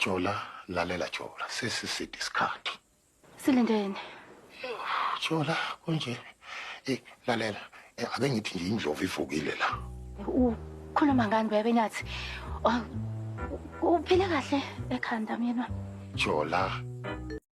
Jola, lalela Jola, sesiside isikhathi. Silindeni. Jola, kunje. Eh, lalela. Eh, ake ngithi nje indlovu ivukile la. Ukhuluma ngani bebe nyathi? Uphile kahle ekhanda mina. Jola.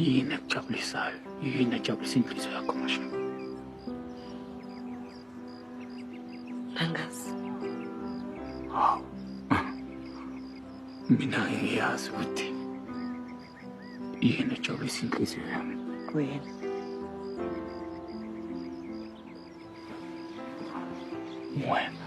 Yini ekujabulisayo? Yini ejabulisa inhliziyo yakho Mashaba? Angazi. Hawu. Mina ngiyazi ukuthi yini ejabulisa inhliziyo yami. Wena. Wena.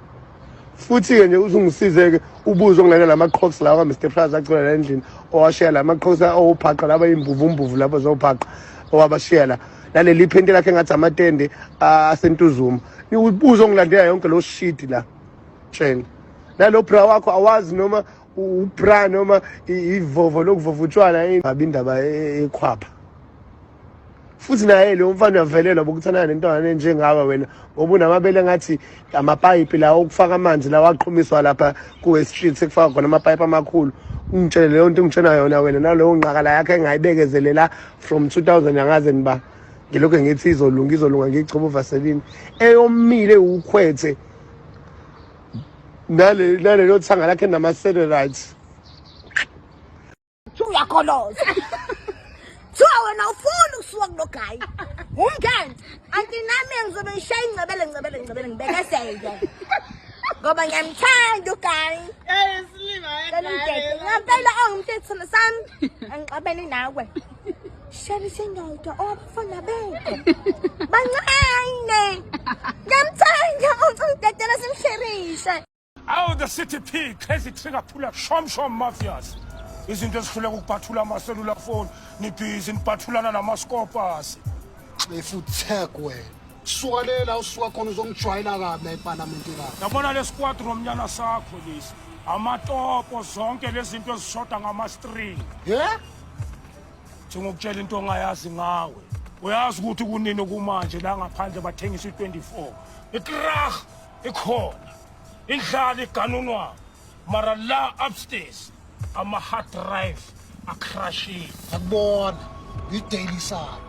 futhi-ke nje uze ungisize-ke ubuze okungena la ma-crocs lawa ka-mr praz acula la endlini owashiya la ma-crocs owuphaqa laba yimvuvumvuvu labo zowuphaqa owabashiya la naleli phenti lakhe engathi amatende asentuzuma ubuze ongilandela yonke lo shidi la tshena nalo bra wakho awazi noma ubra noma ivovo lokuvova utshwala ingabi indaba ekhwapha futhi naye lo mfana uyavelelwa bokuthandana nentwana enjengawe wena ngoba unamabele ngathi amapayipi lawo okufaka amanzi lawo aqhumiswa lapha kuwe street sekufaka khona amapayipi amakhulu ungitshele leyo nto ungitshena yona wena nalowo nqakala yakhe engayibekezelela from 2000 angaze niba ngilokhu ngithi izolunga izolunga ngiyichoba uvaselini eyomile ukhwethe nalelo thanga lakhe nama-satellite Uyakholoza. Kuthiwa wena ufuni ukusuka kulogayi. Umngane. Anti nami ngizobe ngishaya ingcebele ngcebele ngcebele ngibekeseke. Ngoba ngiyamthanda ugayi. Eh silima yedwa. Ngampela ongumthetho sami. Angixabene nawe. Shali sendodwa owabafana bethu. Bancane. Ngiyamthanda uthi udedela simsherishe. Awu the city p crazy trigger phula shom shom mafias izinto ezihluleka ukubhathula amaselula foni nibhizi nibhathulana namaskopasi xefu tag wena suka le la usuka khona uzongijwayela kabi la epalamenti la yabona le squad romnyana sakho lesi amatopo zonke lezi zinto ezishoda ngamastring ye thi ngokutshela into ongayazi ngawe uyazi ukuthi kunini kumanje la ngaphandle bathengisa i-24 itrah ikhona indlala iganunwayo mara la upstairs ama-hard drive acrashile akubona yidaily salo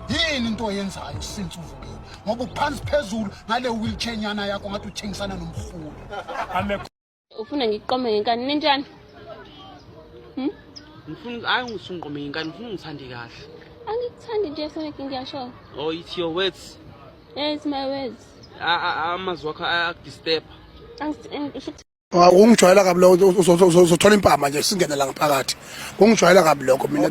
yini into oyenzayo since uvukile ngoba uphansi phezulu ngale wheelchair nyana yakho ngathi uthengisana nomrhulu ufuna ngiqome ngenkani ninjani hmm? ngifuna hayi ngisungiqome ngenkani ngifuna ungithande kahle angikuthandi nje sonke ngiyasho oh it's your words yes my words amazwi wakho ayakudisturba kungijwayela kabi lokho uzothola impama nje singene la ngaphakathi kungijwayela kabi lokho mina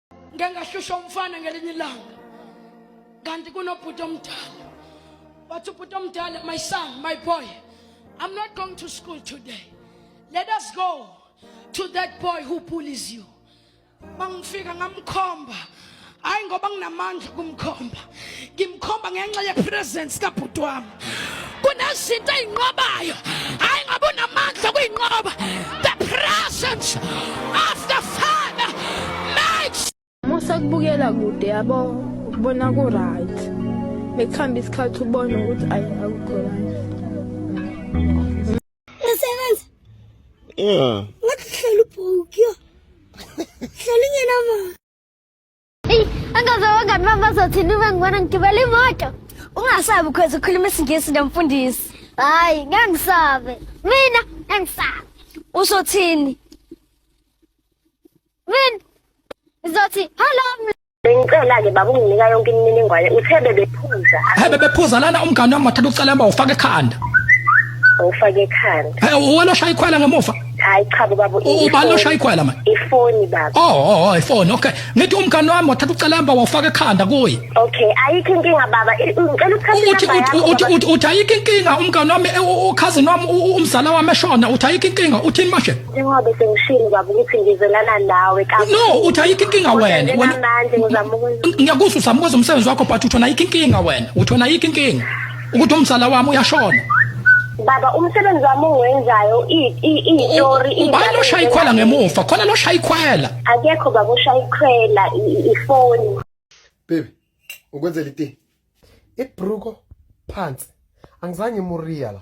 ngike ngahlushwa umfana ngelinye ilanga kanti kunobhuti omdala wathi ubhuti omdala my son my boy i'm not going to school today let us go to that boy who bullies you mangifika ngamkhomba hayi ngoba nginamandla kumkhomba ngimkhomba ngenxa yepresence kabhuti wami kunezinto eyinqobayo hayi ngoba unamandla kuyinqoba the presence of the father makes musa kubukela kude yabo ukubona ku right bekuhamba isikhathi ubona ukuthi ayi akukho right usebenza yeah ngathi hlala ubhuki yo hlala ingenamali Angazawangani mama azothi nibe ngibona ngigibela imoto. Ungasabi ukhweza ukhuluma isingisi nomfundisi. Hayi, ngeke ngisabe. Mina ngeke ngisabe. Usothini? Mina ngizothi hello ml- Bengicela-ke baba unginika yonke imininingwane uthe bebephuza Hey bebephuza lana umngane wami wathatha ucelemba ufaka ekhanda. ngifake ekhanda Hey uwena oshaya ikhwela ngemuva. hayi cha baba ubani oshaya ikhwela manje ifoni baba oh oh, oh ifoni okay ngithi umngane wami wathatha ucelemba wafaka ekhanda kuye okay ayikho inkinga baba ngicela ukuthatha uthi uthi uthi ayikho inkinga umngane wami e, ukhazini wami umzala wami eshona uthi ayikho inkinga uthini manje njengoba sengishilo baba ukuthi ngizelana nawe kakhulu no uthi ayikho inkinga wena wena manje ngizama ukwenza ngiyakuzwa uzama ukwenza umsebenzi wakho but uthona ayikho inkinga wena uthona ayikho inkinga ukuthi umzala wami uyashona baba umsebenzi wami ongiwenzayo iyitori ubani oshaya ikhwela ngemuva khona loshaya ikhwela akekho baba oshaya ikhwela ifoni baby ukwenzela iti ibruko phansi angizange muria la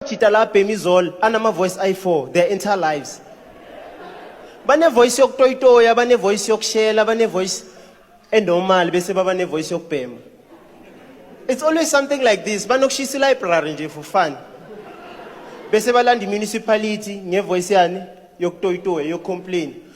Jita la Bemizol anama voice i4 their entire lives. Bane voice yokutoyitoya, bane voice yokushela, bane voice enormal bese baba ne voice yokubhema. It's always something like this. Banokushisa library nje for fun. Bese balanda municipality nge voice yani yokutoyitoya, yo complain.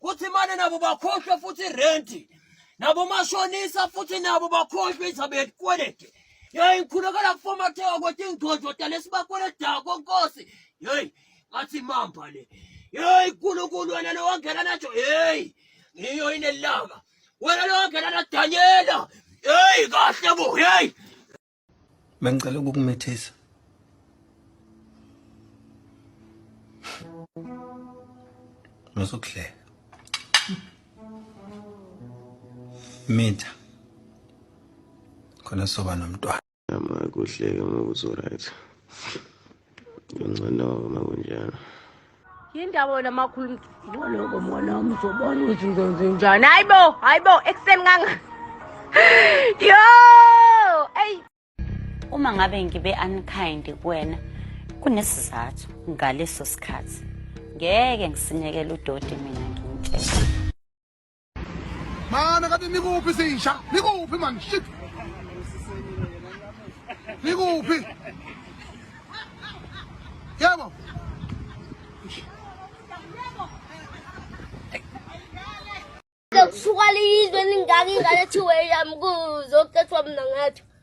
kuthi mane nabo bakhohlwe futhi irenti nabo mashonisa futhi nabo bakhohlwe izaba yelikwelede yeyi ngikhulekela kufomatheka kwethu ingidodota lesibakweledako nkosi yeyi ngathi mamba le yeyi nkulunkulu wena lowangena najo yeyi ngiyo inelanga wena lowangena nadanyela yeyi kahle bo yeyi Bengicela ukukumithisa. Ngizokuhleka. Mitha. Khona soba nomntwana. Ama kuhleke ngokuthi right. Ngcono uma kunjalo. Yindaba wena makhulu ngoloko mona umzobona ukuthi ngizonze njani. Hayibo, hayibo ekseni kanga. Yo! Ey! Uma ngabe ngibe unkind kuwena kunesizathu ngaleso sikhathi. Ngeke ngisinekele udoti mina ngimtshela. Mana kade nikuphi sisha? Nikuphi man shit. Nikuphi? Yebo. Suka liyizwe ningaki ngale thiwe yami kuzokuthethwa mina ngathi.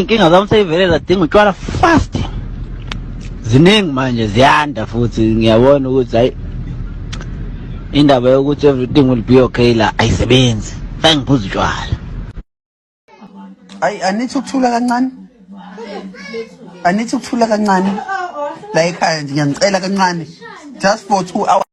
inkinga zami seyivele zadinga utshwala fast ziningi manje ziyanda futhi ngiyabona ukuthi hayi indaba yokuthi everything will be okay la ayisebenzi sangiphuza utshwala ayi anithi ukuthula kancane anithi ukuthula kancane la ekhaya nje ngiyanicela kancane just for two hours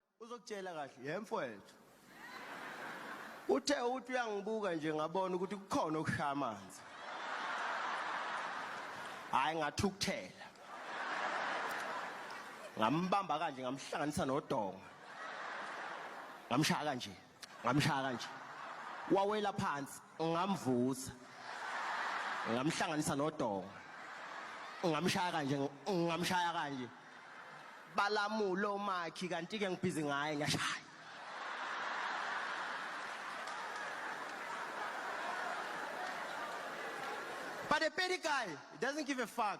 Uzokutshela kahle, yhe mfwethu. Uthe uthi uyangibuka nje ngabona ukuthi kukhona okushaya amanzi. Hayi ngathukuthela. Ngambamba kanje ngamhlanganisa nodonga. Ngamshaya kanje. ngamshaya kanje wawela phansi ngamvusa ngamhlanganisa nodonga ngamshaya kanje ngamshaya kanje balamule omakhi kanti ke ngibhizi ngaye ngiyashaya But a petty guy doesn't give a fuck.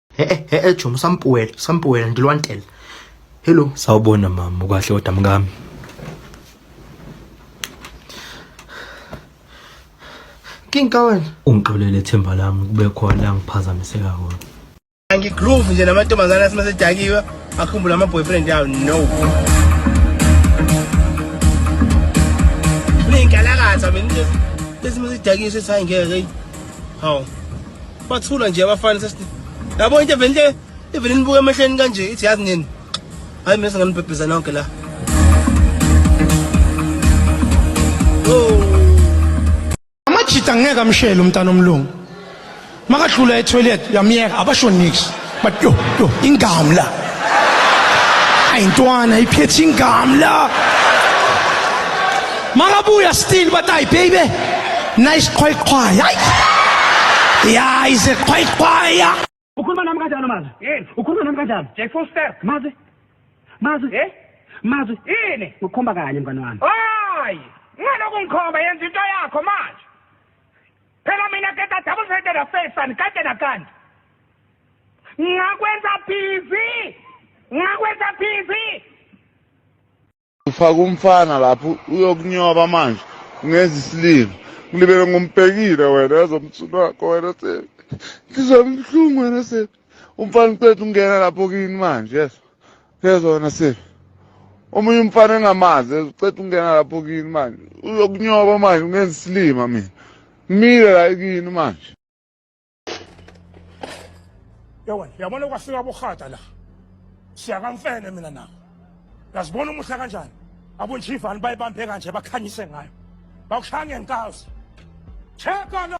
He eh, he eh, eh, Jomo sampuwela, sampuwela ndilwantela. Hello. Sawubona mama, ukahle kodwa mkami. Kinka wena. Ungixolele themba lami kube khona la ngiphazamiseka khona. Angigroove nje namantombazana simasedakiwe akhumbula ama boyfriend yawo no. Ninkalakatha mina nje. Bese masidakiwe sethi hayi ngeke. Hawu. bathula nje abafana sesithi yabo into even le even nibuka emehleni kanje ithi yazi nini hayi mina singanibhebheza nonke la amajita ngeke amshele umntana omlungu makadlula etoilet uyamyeka abasho nix but yo yo ingamla ayintwana iphethe ingamla makabuya still but ay baby nice qhwayqhwaya ay ya ize qhwayqhwaya ukhuluma nami kanjani mazi ukhuluma nami kanjani jack foster mazi mazi eh mazi yini ukhomba kanye mngane wami hayi ngaloku ngikhomba yenza into yakho manje Phela mina ke ka double sided affair sani kade nakande. Ngakwenza busy. Ngakwenza busy. Ufaka umfana lapho uyokunyoba manje ungenza isilima. Ngilibele ngombhekile wena ezomsulu wakho wena se. Ngizwa ubuhlungu wena se. Umfana uqeda ungena lapho kini manje yes. phezwa wena se omunye umfana engamazi uceda ukungena lapho kini manje uyokunyoba manje ungenza isilima mina mile la kini manje yewena yabona kwafika abohata la siyakamfene mina nawo yazibona umuhle kanjani abonjivani bayibambe kanje bakhanyise ngayo bakushaya ngenkazi cheka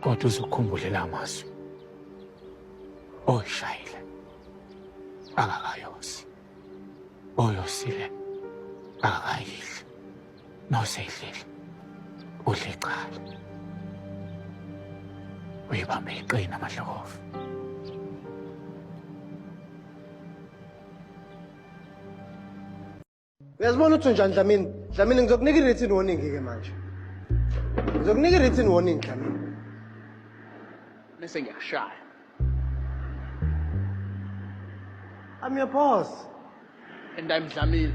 kodwa uzukhumbule la mazwi oyishayile akakayosi oyosile akakayidli Mawusehleli. Udle icala. Uyibambe iqina amadlokovu. Uyazibona ukuthi unjani Dlamini? Dlamini ngizokunika i-written warning ke manje. Ngizokunika i-written warning Dlamini. Bese ngiyakushaya. I'm your boss. And I'm Dlamini.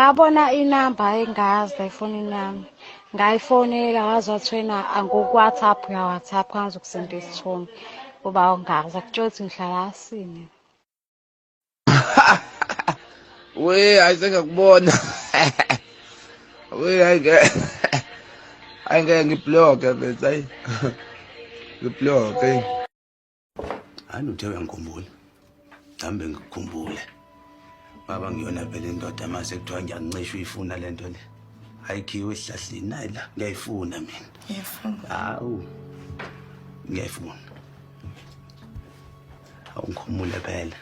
ngabona inamba engazi efonini yami ngayifonela wazi wathwena angoku-whatsapp uya-whatsapp kwanza ukusenda isithombe uba ungazi akutshela ukuthi ngihlala asini we hayi sengakubona we hayi ke hayi ngeke ngibloke mfethu hayi ngibloke hayi uthe uyangikhumbula nami bengikukhumbule baba ngiyona phela indoda uma sekuthiwa ngiyakuncisha uyifuna le nto le ayikhiwe esihlahleni nayi la ngiyayifuna mina hawu ngiyayifuna awungikhumule phela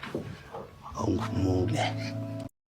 awungikhumule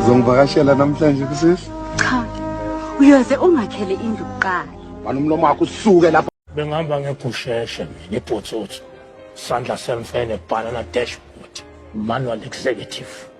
uzongivakashela namhlanje kusisi cha uyoze ungakhele indlu kuqala bani umlomo wakho usuke lapho bengihamba ngegusheshe mina ibhotsotso sandla semfene banana dashboard manual executive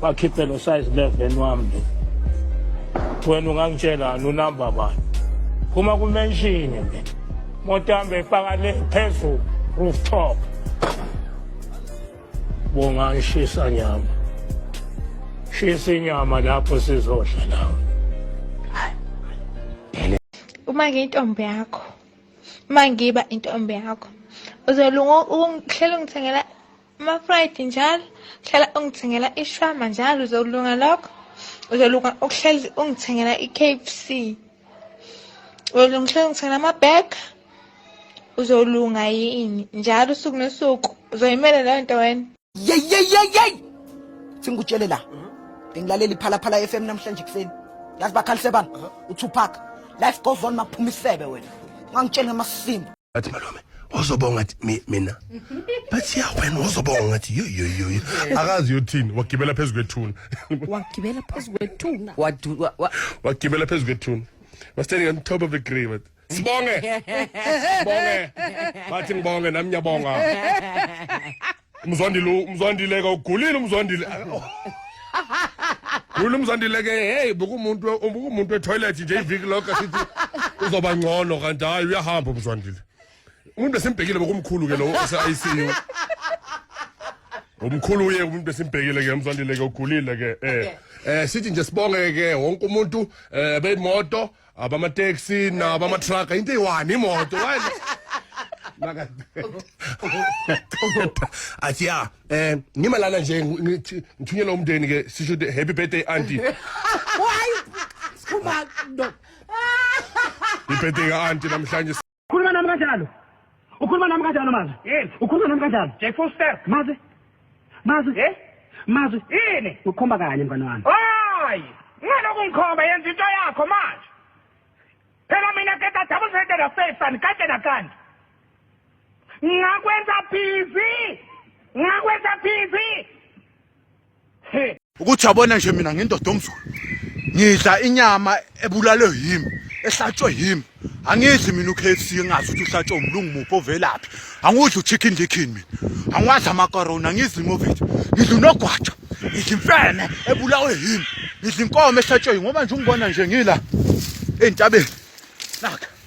bakhiphe lo size 11 wami nje wena ungangitshelani unamba bani phuma kumenshini mina motambe ifaka le phezulu rooftop bonga ishisa nyama shisa inyama lapho sizodla nawe uma ngiyintombi yakho uma ngiba intombi yakho uzolunga ungihlela ungithengela Ama-pride njalo hlala ungithengela ishwama njalo uzolunga lokho uzolunga ukuhlezi ungithengela i-KFC uzolungihlezi ungithengela ama-bag uzolunga yini njalo usuku nosuku uzoyimela leyo nto wena yeyeyeyey singikutshele la bengilalela iphalaphala f m namhlanje ekuseni yazi bakhalise bani utupac life goes on maphuma isebe wena ungangitsheli ngamasimba bathi malume ozobonga athi "Mi- mina bathi ya wena ozobonga athi yoyoyoyo akazi yothini wagibela phezu kwethuna wagibela phezu kwethuna Wadu- wa- wa- wagibela phezu kwethuna was standing on top of the grave wathi, sibonge sibonge bathi ngibonge nami ngiyabonga umzwandile umzwandile ka ugulile umzwandile gula umzwandile ke hey bekumuntu bekumuntu etoilet nje iviki lonke sithi uzoba ngcono kanti hayi uyahamba umzwandile umuntu besimbhekile bokumkhulu ke lo ose-ICU umkhulu uye umuntu besimbhekile ke umzwandile ke ugulile ke eh eh sithi nje sibonge ke wonke umuntu eh beyimoto abamateksi nabamatraga into eyi-one imoto Why- Maka- athi ya um ngima lana nje ngi- ngithi- ngithunyelwa umndeni ke sisho ukuthi happy birthday anti Why? Sikhumba no. ibirthday ka-anti namhlanje khuluma nami kanjalo ukhuluma nami kanjalo mazi ukhuluma nami kanjalo J full step mazi mazi eh mazi yini ukhomba kanye mngane wami hayi ngaloku ngikhomba yenza into yakho manje phela mina ke da double sided affair sani kade nakandi ngakwenza busy ngakwenza busy ukuthi yabona nje mina ngindoda omzulu ngidla inyama ebulalwe yimi ehlatshwe yimi angidli mina uKFC engazi ukuthi uhlatshwe umlungu muphi ovelaphi angudli uchicken licken mina angiwadla amakorona ngidli imovithi ngidla unogwaja ngidla imfene ebulawe yimi ngidla inkomo ehlatshwe ngoba nje ungibona nje ngila entabeni naka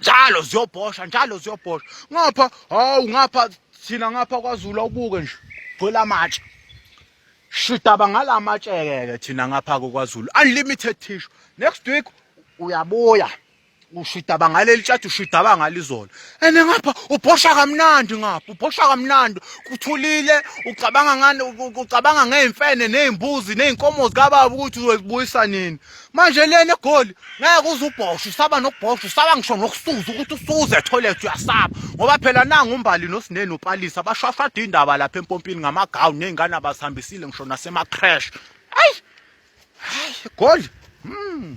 njalo ziyobhosha njalo ziyobhosha ngapha hawu ngapha thina ngapha kwaZulu awubuke nje gcwele amatshe shidaba ngala matshe-ke thina ngapha kokwaZulu unlimited tissue next week uyabuya ushidaba ngaleli tshathi ushidaba ngalizolo and ngapha ubhosha kamnandi ngapha ubhosha kamnandi kuthulile ucabanga ngani ucabanga ngeyimfene nezimbuzi nezinkomo zikababa ukuthi uzozibuyisa nini manje lena egoli ngeke uze ubhoshe usaba nokubhosha usaba ngisho nokusuza ukuthi usuze etoilet uyasaba ngoba phela nangu umbali nosineni upalisa bashwashwada indaba lapha empompini ngamagawuni nezingane abasihambisile ngisho nasemacrash ayi hayi egoli mm.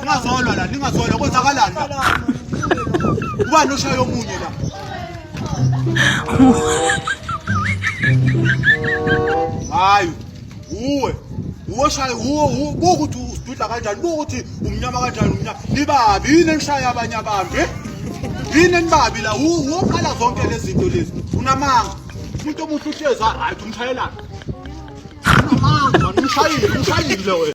Ningazolwa la, ningazolwa kwenzakalani la? Ubani oshaya omunye la? Hayi, uwe. Uwe shaya uwe uwe ukuthi usidudla kanjani, ukuthi umnyama kanjani umnyama. Nibabi yini enishaya abanye abantu? Eh? Yini enibabi la? Uwe uqala zonke lezi zinto lezi. Unamanga. Umuntu omuhle uhleza, hayi umshayelana. Unamanga, umshayile, umshayile wena.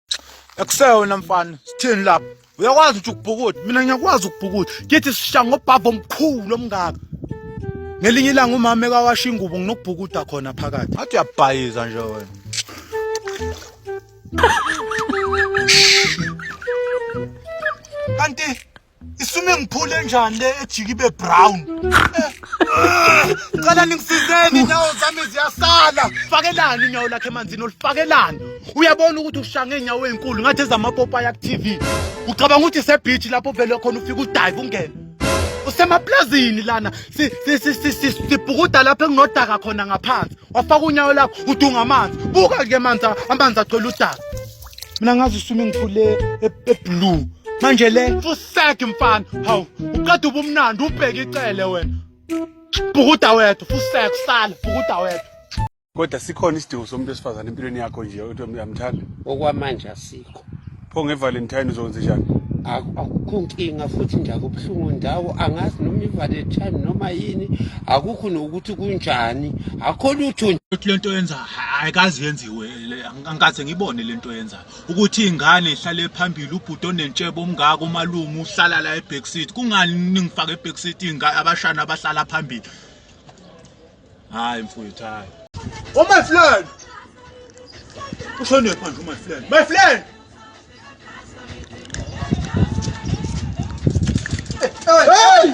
akuseyona mfana sithini lapho uyakwazi ukuthi ukubhukuda mina ngiyakwazi ukubhukuda ngithi sishaya ngobhava omkhulu omngaka ngelinye ilanga umama ekawasha ingubo nginokubhukuda khona phakathi athi uyabhayiza nje wena kanti isume ngiphule njani le ejiki ibe brown cela ningisizeni nawo zami ziyasala fakelani unyawo lakhe emanzini olufakelani uyabona ukuthi ushange inyawo ezinkulu ngathi ezamapopayi aku-tv ucabanga ukuthi sebhithi lapho vele khona ufike udive ungene usemaplazini lana sibhukuda lapho enginodaka khona ngaphansi wafaka unyawo lakho udunga amanzi buka-ke amanzi amanzi agcwele udaka mina ngazi usume ngiphule eblue manje le fusege mfana hawu uqeda ubumnandi ubheke icele wena bhukuda wethu fusege usale bhukuda wethu kodwa sikhona isidingo somuntu wesifazane empilweni yakho nje ukuthi uyamthanda okwamanje asikho pho ngevalentine uzokwenza njani akukho nkinga futhi nje akubuhlungu ndawo angazi noma ivalentine noma yini akukho nokuthi kunjani akho lutho lento yenza ayikazi yenziwe angikaze ngibone lento yenzayo ukuthi ingane ihlale phambili ubhuti onentshebo omngaka umalume uhlala la eback seat kungani ningifaka eback seat ingane abashana abahlala phambili hayi mfowethu hayi oh my friend ushone phandle my friend my friend hey, hey.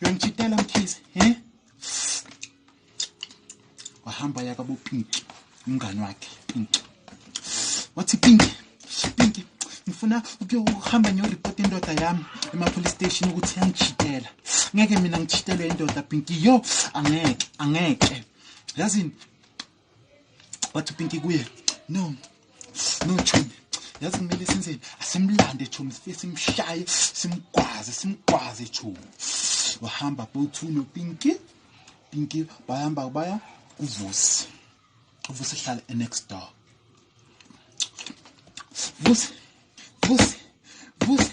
uyangitshitela mkhize he wahamba yaka bopinki umngane wakhe pinki wathi pinki pinki ngifuna ukuyohamba ngiyoripota indoda yami emapolice station ukuthi yangitshitela ngeke mina ngitshitelwe indoda pinki yo angeke angeke yazini wathi upinki kuye no no chomi yazi kumele senzeni asimlande chomi sifike simshaye simgwaze simgwaze chomi wahamba bowu-two nopinki pinki bahamba baya kuvusi uvusi hlala enext door vusi vusi vusi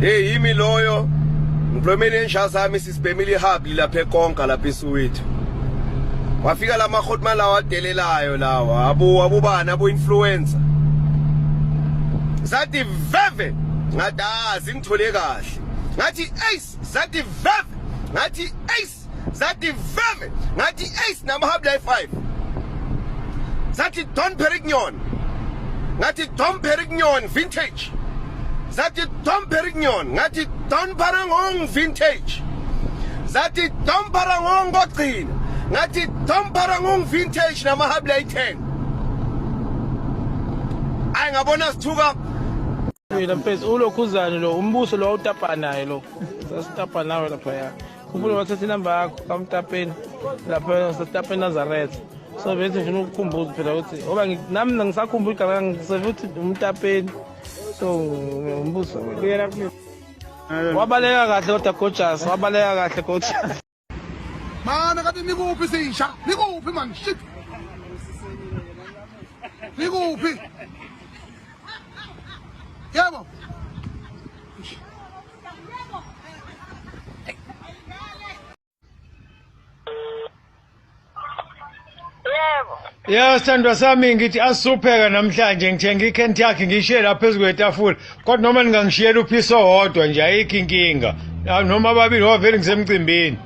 Hey yimi loyo ngiphumele insha sami sisibhemile ihabi lapha ekonka lapha eSuwethu. Wafika lama khotma lawa adelelayo lawa abu abubana abu influencer. Zathi veve ngadazi ngithole kahle. Ngathi ace zathi veve ngathi ace Ace zathi veve ngathi Ace namahabla e5 zathi Don Perignon ngathi Don Perignon vintage zathi Don Perignon ngathi Don Parangong vintage zathi Don Parangong kogcina ngathi Don Parangong vintage namahabla e10 ay ngabona sithuka Mina mfethu ulokhuzane lo umbuso lo utapa naye lo. Sasitapa nawe lapha ya. ufuna bathatha inamba yakho kamtapeni lapho setapeni nazaretha so bethi ngifuna ukukhumbuza phela ukuthi oba nami nangisakhumbula igama ngiseve ukuthi umtapeni so umbuzo kuyela kumina wabaleka kahle kodwa gojasi wabaleka kahle gojasi mana kati nikuphi sisha nikuphi mani shit nikuphi yebo ya sithandwa sami ngithi asisupheka namhlanje ngithenga ikhenti yakhe ngiyishiye la phezu kwetafula kodwa noma ningangishiyela uphisi owodwa nje ayikho inkinga noma ababili ngoba vele ngisemcimbini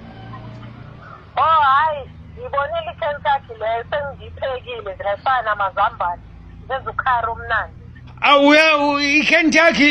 o oh, hhayi ngibonile ikhenti yakhe leyo sengiyiphekile ziyafana namazambane zenza ukhari omnandi awuya ikhenti yakhe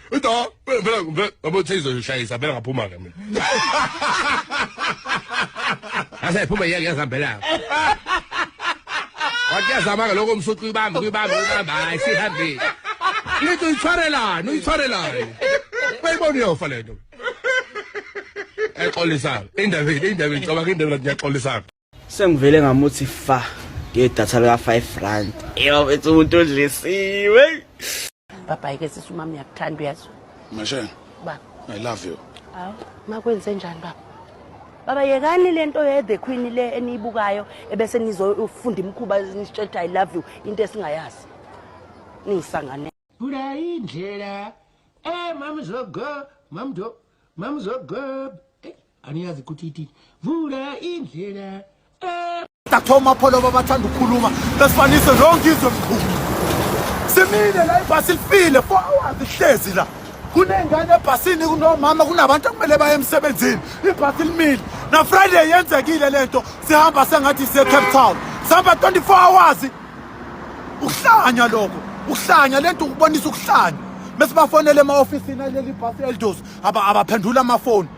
Uthi ah, phela phela phela babo Taze ushayisa phela ngaphuma ke mina. Ase phuma yeke yazambela. Wathi yazama ke lokho umsuthi uyibamba uyibamba uyibamba hayi sihambe. Lithi uyithwarelani uyithwarelani. Bayibona uyofa lento. Exolisana. Indaba indaba ngicabanga indaba ngiyaxolisana. Sengivele ngamuthi fa ngedatha lika 5 rand. Eyo bethi umuntu odlisiwe. Baba yike sisi umama uyakuthanda uyazwa. Mashana. Baba. I love you. Hawu, makwenze njani baba? Baba yekani lento ye the queen le eniyibukayo ebese nizofunda imkhuba nisitshelta I love you into esingayazi. Ningisangane. Bula indlela. Eh mamzogo, mamdo, mamzogo. aniyazi ukuthi ithi vula indlela eh. dathoma pholo babathanda ukukhuluma besifanise lonke izwe mkhulu simile la ibhasi lifile four hours ihlezi la kunengane ebhasini kunomama kunabantu okumele baye emsebenzini ibhasi limile nafriday yenzekile le nto sihamba sengathi sisecape town sihamba 24 hours ukuhlanya lokho ukuhlanya le nto ukubonisa ukuhlanya besibafonele ema-ofisini aleli bhasi eldos abaphendula amafoni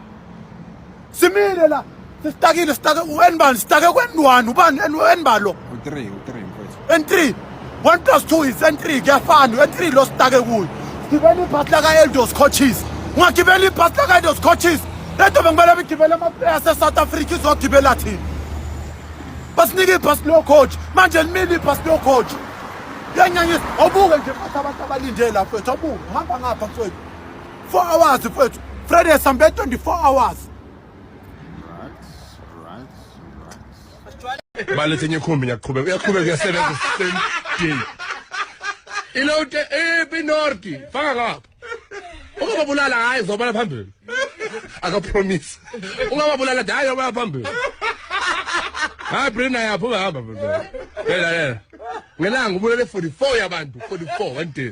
simile la sisitakile sitake uenbani sitake kwendwani ubani enbalo u3 u3 mfethu n3 1 plus 2 is n3 kuyafana n3 lo sitake kuyo gibela ibhasi laka-eldos coaches ungagibela ibhasi laka-eldos coaches le nto bekumele bigibele amaplaya asesouth africa izogibela thina basinike ibhasi locoach manje limile ibhasi locoach yanyanyisa awubuke nje futhi abantu abalinde lapho ethu awubuke uhamba ngapha mfowethu 4 hours mfethu friday sambe 24 hours balethe enye ikhumbi ngiyaqhubeka uyaqhubeka uyasebenza same day ilote epi nordi faka ngapha ungababulala hayi zobala phambili akapromise ungababulala hayi zobala phambili hayi brina yapha ungahamba phela ngelanga ubulele 44 yabantu 44 one day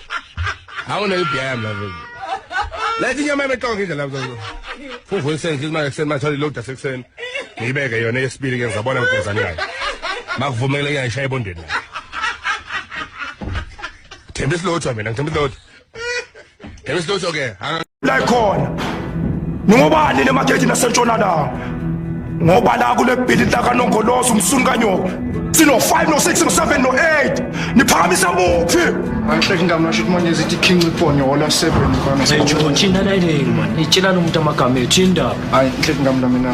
Hawu ne BM la vele. Lethi nyama ebetonga indlela mzanzo. Fuvu esenzi imali ekseni matholi load asekseni. Ngibeke yona yesibili ke ngizabona ngigezani yayo. Makuvumele uyayishaya ebondeni. Thembisa lotho mina ngithembisa lotho. Thembisa lotho ke. la khona ningobani le makethi nasentshonalanga ngoba la kule bhilidi lakanongoloza umsuni kanyoko sino-5 no-6 no-7 no-8 niphakamisa muphi angihleki ngamna sho ukuthi manje zithi king ibhonyola 7 mfana seyitshela umuntu amagama ethu indaba hayi ngihleki ngamna mina